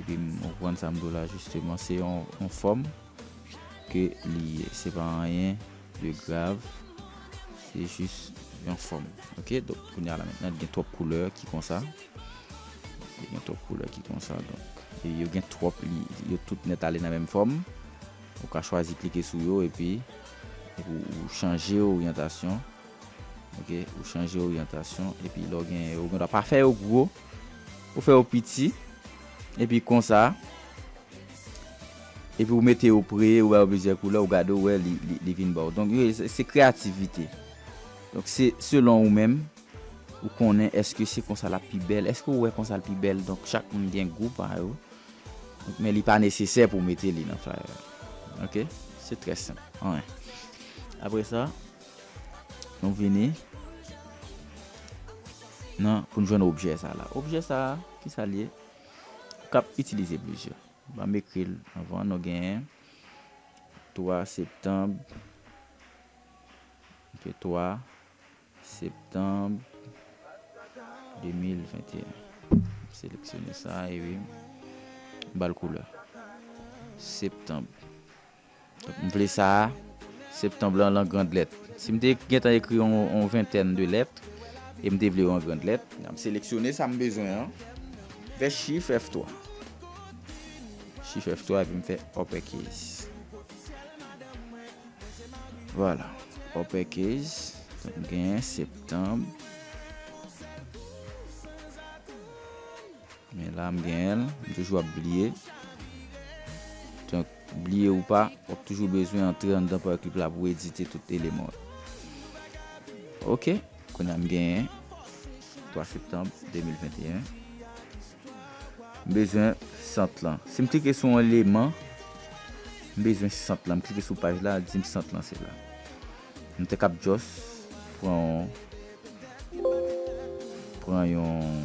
epi m, ou konprann sa m di w la jisteman, se yon fòm ke li ye. Se pa anyen de grav, se jis yon fòm. Ok, donk kounya la mentnan, gen twòp koulè ki konsa. Gen twòp koulè ki konsa, donk. E yo gen twòp li, yo tout nèt ale nan menm fòm. Ou ka chwazi klike sou yo epi ou chanje oryantasyon. Ok ou chanje oryantasyon epi lè w genyen yo ou gendwa pa fè yo gwo ou fè yo piti epi konsa epi ou mete yo pre ou ba yo plizyè koulè ou gade ou wè li vin ba w donk yo se kreyativite donk se selon ou menm ou konnen èske se konsa l ap pi bèl èske ou wè konsa l pi bèl donk chak moun gen gou pa yo men li pa nesesè pou w mete li nan flyer ok se trè senp 1 apre sa. Nou vini nan pou nou jwenn objè sa la. Objè sa a, ki sa li ye? Kap itilize plizyè. Ba m ekri l anvan nou genyen 3 septanb, ok 3 septanb 2021. Seleksyone sa e wi. M ba l koulè. Septanb. M vle sa a, Septanb lan lan grand lèt. Si m te gentan ekri yon ventèn de lèt, e m te vle yo an grand lèt. M seleksyone sa m bezwen an, m fè chif F3. Chif F3 epi m fè uppercase. Vwala, uppercase. Donk m genyen Septanb. Men la m genyen l. M toujou ap bliye. Donk. Bliye ou pa, w ap toujou bezwen antre anndan Parklib la pou w edite tout eleman yo. Ok, kounye a m genyen 3 septanm 2021. M bezwen sant lan. Si m klike sou yon eleman, m bezwen sant lan. M klike sou paj la, l di m sant lan se la. M te kab jòs pran yon pran yon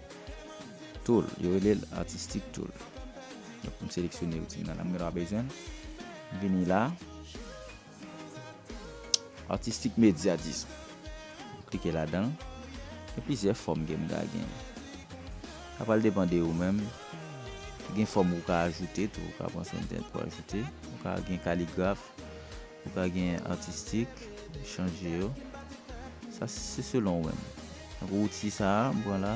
Tool, yo rele l artistic tool. Donk pou m seleksyone yon ti nan la m gen dwa bezwen l. M vini la. Artistic media dis. M klike ladan l. Gen plizyè fòm ke m ka gen. Sa pral depan de ou menm. Gen fòm ou ka ajoute tou. Ou ka pran sou entènèt pou ajoute. Ou ka gen kaligraf. Li pa gen artistic chanje yo. Sa se selon wè m. Tankou outil sa m pran la.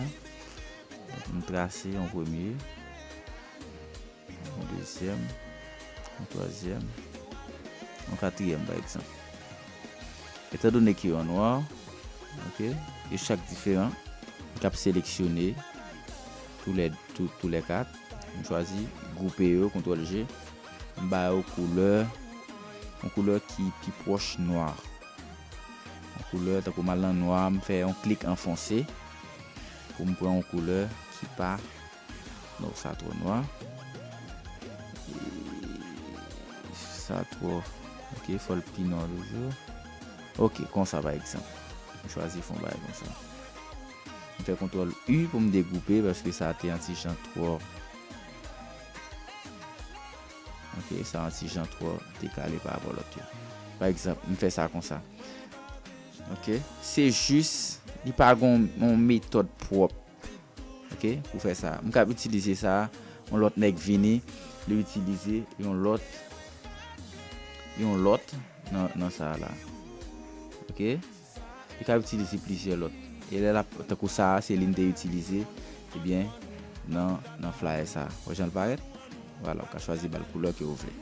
M trase yon premye. Yon dezyèm. Yon twazyèm. Yon katriyèm pa egzanp. Etan done ke yo an nwa. Ok. Yo chak diferan. M kab seleksyone tou lè kat. M chwazi gwoupe yo, kontrol je. M ba yo koulè, yon koulè ki pi pwòch nwa. Yon koulè tankou m al nan nwa, m fè yon klik an fonse pou m pran yon koulè ki pa non sa twò nwa. Sa twò ok fò l pi nwa toujou. Ok konsa pa egzanp. M chwazi fon bagay konsa. M fè kontwòl U pou m degoupe paske sa te antijan twò. Ok, sa an ti jan twò dekale pa rapò lòt yo. Pa egzanp, m fè sa konsa. Ok, se jis, li pa gon yon metòd pwòp. Ok, pou fè sa. M kab itilize sa, yon lòt nèg vini, li itilize yon lòt, yon lòt nan sa la. Ok. Li ka itilize plizyè lòt. E lè l ap, tankou sa a, se li m te itilize, ebyen, nan, nan flayè sa a. Wè jan l parèt? Vwala, ou ka chwazi ba l koulè ke ou vle.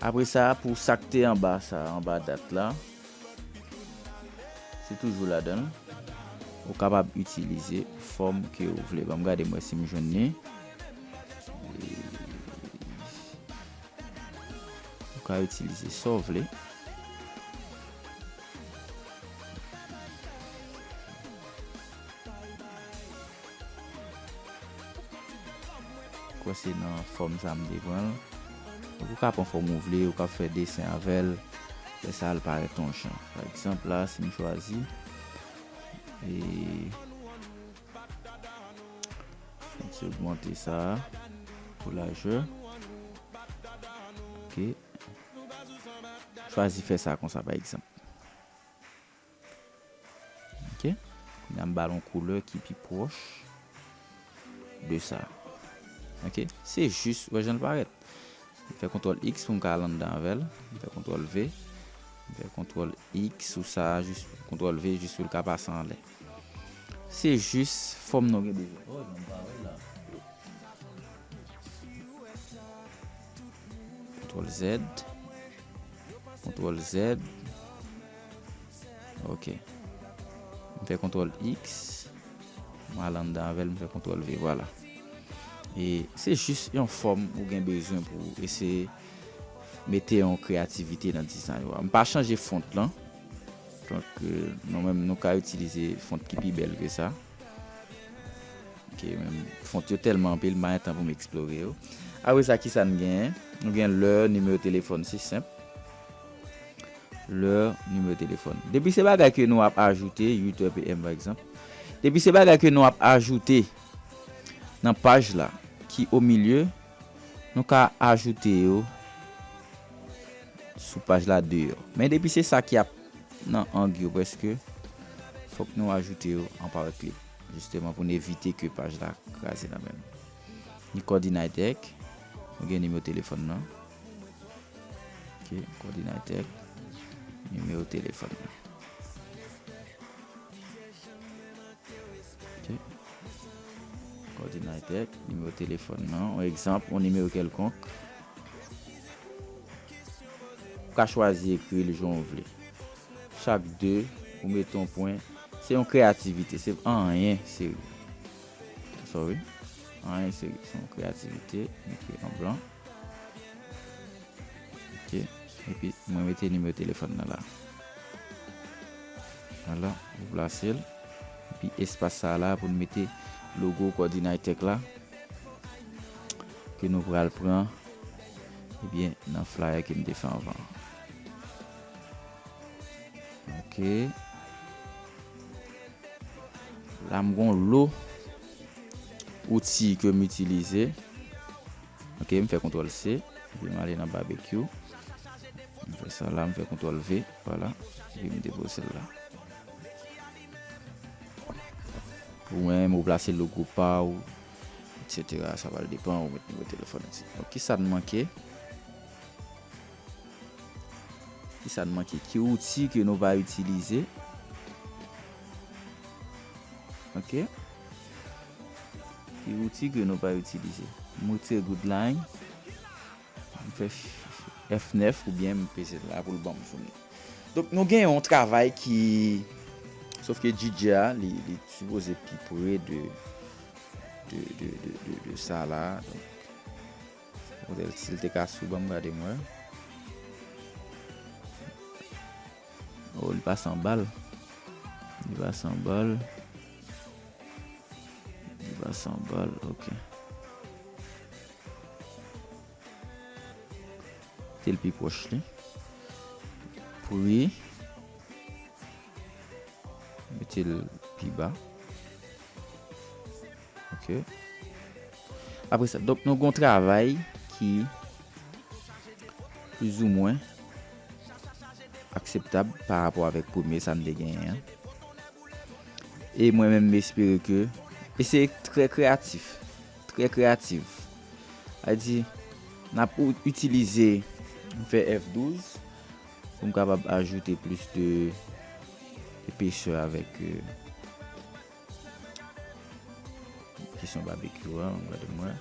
Apre sa, pou sa k te anba sa a, anba dat la, se toujou ladan l. Ou kapab itilize fòm ke ou vle. Ban m gade m wè si m jwenn li. Ou ka itilize sa w vle. Kwen se nan fòm sa m te pran l. Ou ka pran fòm ou vle, ou ka fè desen avè l. Fè sa l parèt ton jan. Pa egzanp la, si m chwazi. E m ti ogmante sa a pou lajè. Ok. Chwazi fè sa konsa pa egzanp. Ok. Kounye a m ba l yon koulè ki pi pwòch de sa. Ok. Se jis, wè jan l parèt. M fè kontwòl X pou m ka al anndan avè l. M fè kontwòl V. M fè kontwòl X sou sa a jis, kontwòl V jis pou l ka pase anlè. Se jis fòm nou gen bezwen. Oh non m pa wè l la. Ctrl Z Ctrl Z ok m fè Ctrl X m al anndan avè l m fè Ctrl V vwala e se jis yon fòm ou gen bezwen pou w eseye mete yon kreyativite nan dizay ou a m pa chanje font lan. Donk nou menm nou ka itilize font ki pi bèl ke sa. Ok men font yo tèlman anpil m pa gen tan pou m eksplore yo. Apre sa kisa n genyen? Nou gen lè, nimewo telefòn se senp. Lè, nimewo telefòn. Depi se bagay ke nou ap ajoute, 8 heures PM pa egzanp. Depi se bagay ke nou ap ajoute nan paj la ki o milieu. Nou ka ajoute yo sou paj la deyò. Men depi se sa ki ap nan ang yo prèske, fòk nou ajoute yo an powerclip. Jisteman pou n evite ke paj la kraze nan men nou. Ni Coordinaitec, nou gen nimewo telefòn nan. Ok, Coordinaitec, nimewo telefòn nan. Kòdinatè, nimewo telefòn nan, yon egzanp, yon nimewo kèlkonk. Ou ka chwazi ekri l jan w vle. Chak 2, ou mete yon pwen. Se yon kreyativite, se anyen serye. Anyen serye, se yon kreyativite, m ekri an blan. epi mwen mete nimewo telefòn nan la wala nou plasel epi espas sa la pou nou mete logo kòdinaytèk la ke nou pral pran ebyen eh nan flyer ke m te fè anvan ok la m gon lo Outil ke m itilize. Ok m fè kontrol C. Epi m ale nan barbecue. M fè sa la m fè kontrol V. Vwala. Epi m depose l la. Ou menm ou plase logo pa ou. Etc. Sa pral depan ou met nimewo telefon. Ok sa n manke. Ki sa n manke? Ki wouti ke nou va itilize? Ok. Ki wouti ke nou va itilize? M retire grid line. M fè F9 ou byen m peze la pou l banm founi. Donk nou gen yon travay ki... Sof ke DJ a li sipoze pi pre de sa la. Model sil te ka sou banm gade m wè. Oh li pase an bal. Li pase an bal. Li pase an bal ok. Tel pi pwoch li. Pri. Metel pi ba. Ok. Apre sa, donk nou gon travay ki plouzoumwen akseptab pa rapò avèk premye sa m te genyen an. E mwen menm m espere ke, e se trè kreyatif, trè kreyativ. A di, n ap itilize, m fè F12 pou m kapab ajoute plis de epesè avèk. Ki son barbecue a, m gade mwen.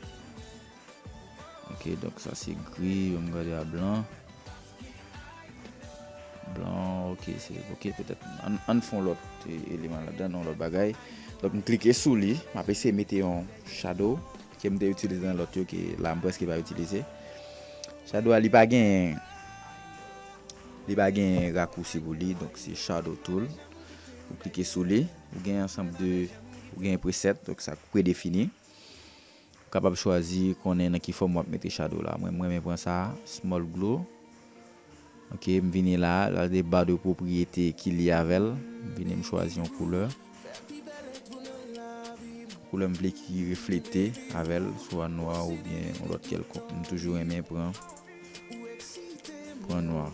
Ok, donk sa se gri, yo m gade a blan. Blan, ok, se, ok, petèt, an fon lòt eleman la dan, non lòt bagay. Donk m klike sou li, m ap eseye mete yon shadow, ke m te itilize nan lòt yo, ke la m preske pa itilize. Shadow a li pa gen, li pa gen rakousi pou li, donk se shadow tool. M klike sou li. Ou gen ansanb de ou gen preset donk sa predefini. Ou kapab chwazi konnen nan ki fòm wap mete shadow la. Mwen m renmen pran sa a, small glow. Ok, m vini la a, la gen bar de pwopriyete ki lye avè l. M vini m chwazi yon koulè. Koulè m vle ki reflete avè l, swa nwa oubyen yon lòt kèlkonk. M toujou renmen pran pran nwa.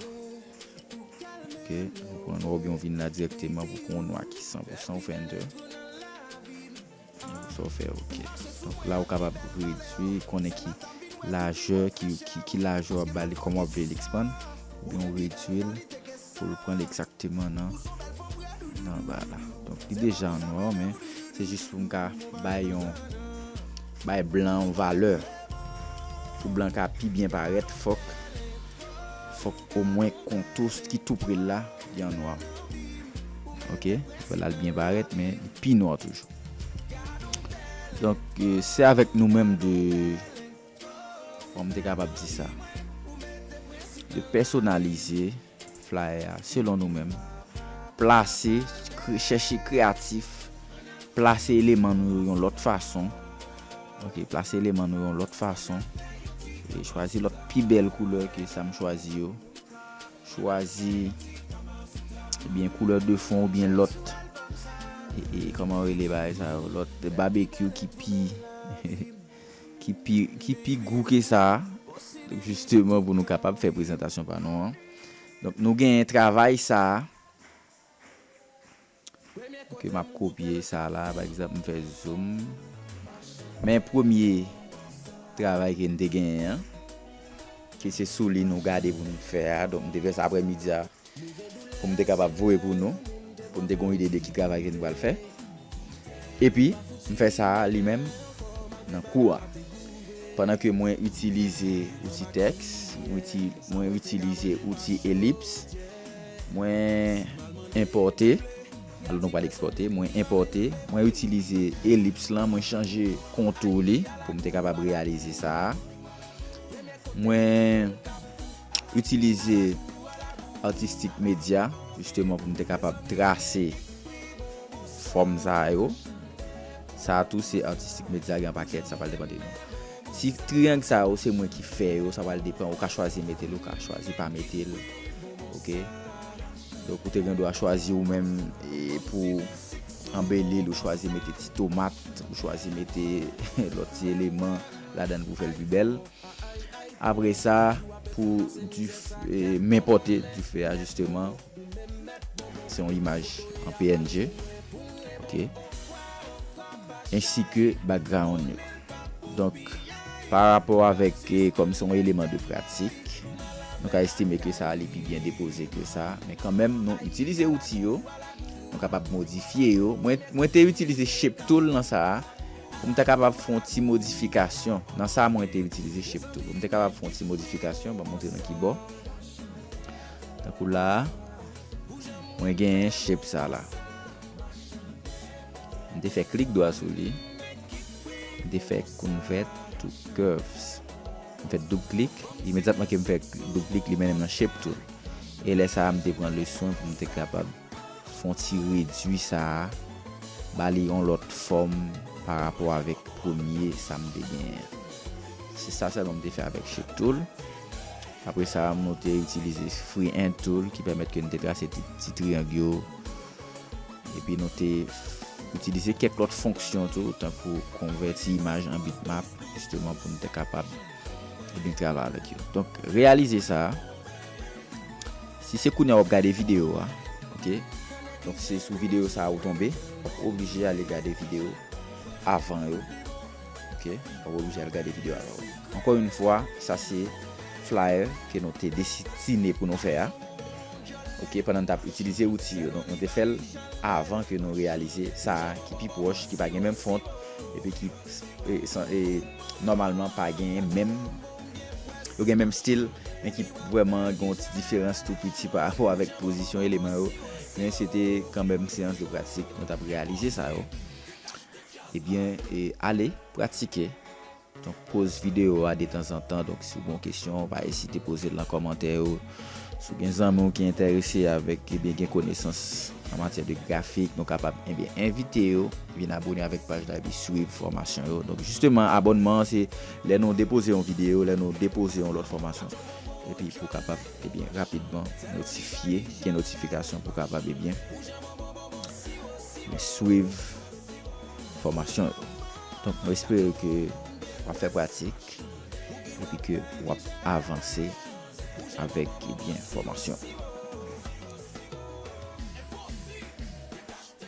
Ok, ou pran nwa ou byen ou vin la direkteman pou pran yon nwa ki 100% ou fè enter. Sa ou fè ok. Donk la ou kapab redwi, konnen ki lajè, ki lajè ou ap bali, kòman ou ap vle li ekspann. Ou byen ou redwi l pou l pran l ekzakteman nan nan ba la. Donk li deja an nwa men se jis pou m ka bay yon bay blan yon valè. Pou blan ka pi byen parèt fòk. Fòk omwen kontou ki tou pre l la li an nwa. Ok. Fè l al byen parèt men li pi nwa toujou. Donk se avèk nou menm de kòman m te kapab di sa de pèsonalize flayè a selon nou menm. Plase, chèche kreyatif, plase eleman nou yo yon lòt fason. Ok plase eleman nou yon lòt fason e chwazi lòt pi bèl koulè ke sa m chwazi yo chwazi ebyen koulè de fon oubyen lòt e kòman rele bagay sa yo lòt babekyou ki pi ki pi ki pi gou ke sa jisteman pou nou kapab fè prezantasyon pa nou an donk nou genyen travay sa. Ok map kopye sa la pa egzanp m fè zoom men premye travay ke n te genyen an ke se sou li nou gade pou nou fè a donk m te fè sa aprè midi a pou m te kapab voye pou nou pou n te gon ide de ki travay ke nou pral fè epi m fè sa li menm nan kou a pandan ke mwen itilize outi tèks mwen itilize outi elips. Mwen enpòte, alò nou pral ekspòte, mwen enpòte, mwen itilize elips lan, mwen chanje kontou li pou m te kapab reyalize sa a. Mwen itilize artistic media jisteman pou m te kapab trase fòm sa yo. Sa a tou se artistic media gen an pakèt, sa pral depan de nou. Si triangle sa yo se mwen ki fè yo sa pral depan ou ka chwazi metel ou ka chwazi pa metel ok donk ou te gen dwa chwazi ou menm pou anbelil ou chwazi mete ti tomat ou chwazi mete lòt ti eleman ladan pou fèl pi bèl apre sa pou dife men pote dife a jisteman. Se yon imaj an png ok ensi ke background yo donk pa rapò avèk kòm se yon eleman de pratik nou ka estime ke sa li pi byen depoze ke sa men kanmenm nou itilize outi yo nou kapab modifye yo mwen te itilize shape tool nan sa a pou m ta kapab fè yon ti modifikasyon nan sa mwen te itilize shape tool pou m ta kapab fè yon ti modifikasyon m ap montre nou kibò. Tankou la a, mwen genyen shape sa la. M te fè klik dwa sou li. M te fè convert to curves. M fè doub klik. Imedyatman ke m fè doub klik, li mennen m nan shape tool. E lè sa a, m te pran le swen pou m te kapab Fon ti redwi sa a, ba li yon lòt fòm pa rapò avèk premye sa m te genyen an. Se sa sèlman m te fè avèk Shape Tool. Apre sa, nou te itilize Freehand Tool ki pèmèt ke n te trase ti triyang yo. Epi nou te itilize kèk lòt fonksyon tou, tankou konvèti imaj an bitmap, jisteman pou n te kapab. e byen travay avèk yo. Donk reyalize sa, si se kounye a wap gade video a, ok, donk se sou video sa ou tonbe, wap oblije ale gade video avan yo, ok, wap oblije ale gade video avan yo. Ankò yon fwa, sa se flyer ke nou te desitine pou nou fè a, ok, pandan nou tap itilize outi yo, donk nou te fèl avan ke nou reyalize sa ki pi pwòch, ki pa gen menm font, epi ki. E nòmalman pa genyen menm, yo gen menm stil, men ki vwèman gen yon ti diferans tou piti pa rapò avèk pozisyon eleman yo, men se te kan menm seyans de pratik nou t ap reyalize sa yo. Ebyen, ale pratike. Donk poz videyo a detanzantan, donk si w gen yon kesyon, pa ezite poze l nan kòmantè yo. Si w gen zanmi w ki enterese avèk ebyen gen konesans an matyè de grafik nou kapab ebyen envite yo vin abone avèk paj la epi swiv fòmasyon yo donk jisteman abònman an se lè nou depoze yon videyo lè nou depoze yon lòt fòmasyon epi pou kapab ebyen rapidman notifye gen notifikasyon pou kapab ebyen swiv fòmasyon yo donk mwen espere ke wap fè pratik epi ke wap avanse. avèk enfòmasyon.